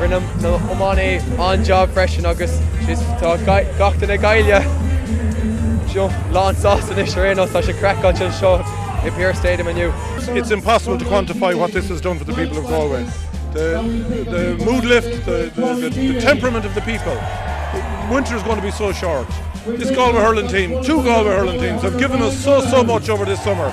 Rinne na h-iománaí an-jab freisin agus tá gach duine Gaillimhe lán sásta anois ar aon nós. Tá sé craiceáilte anseo i Pearse Stadium inniu. It's impossible to quantify what this has done for the people of Galway. The, the mood lift, the, the, the, temperament of the people. Winter is going to be so short. This Galway hurling team, two Galway hurling teams, have given us so, so much over this summer.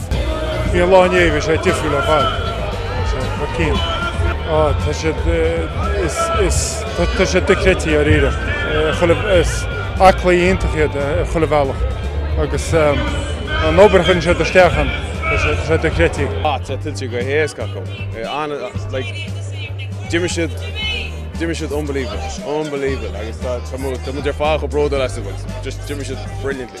Bhí an lá inné, bhí sé difriúil ar fad, bhí sé thar cionn. Á, tá siad, is, is, tá siad dochreidte ar iarracht, ar chuile, is aclaí iontach iad ar chuile bhealach agus an obair a chuireann siad isteach ann, tá sé, tá sé dochreidte. Á, tá sé tuillte go héasca acu, an, like, d'imir siad, d'imir siad unbelievable, unbelievable agus tá, tá muid, tá muid ar fad chomh bródúil astu bhfuil, just d'imir siad brilliantly.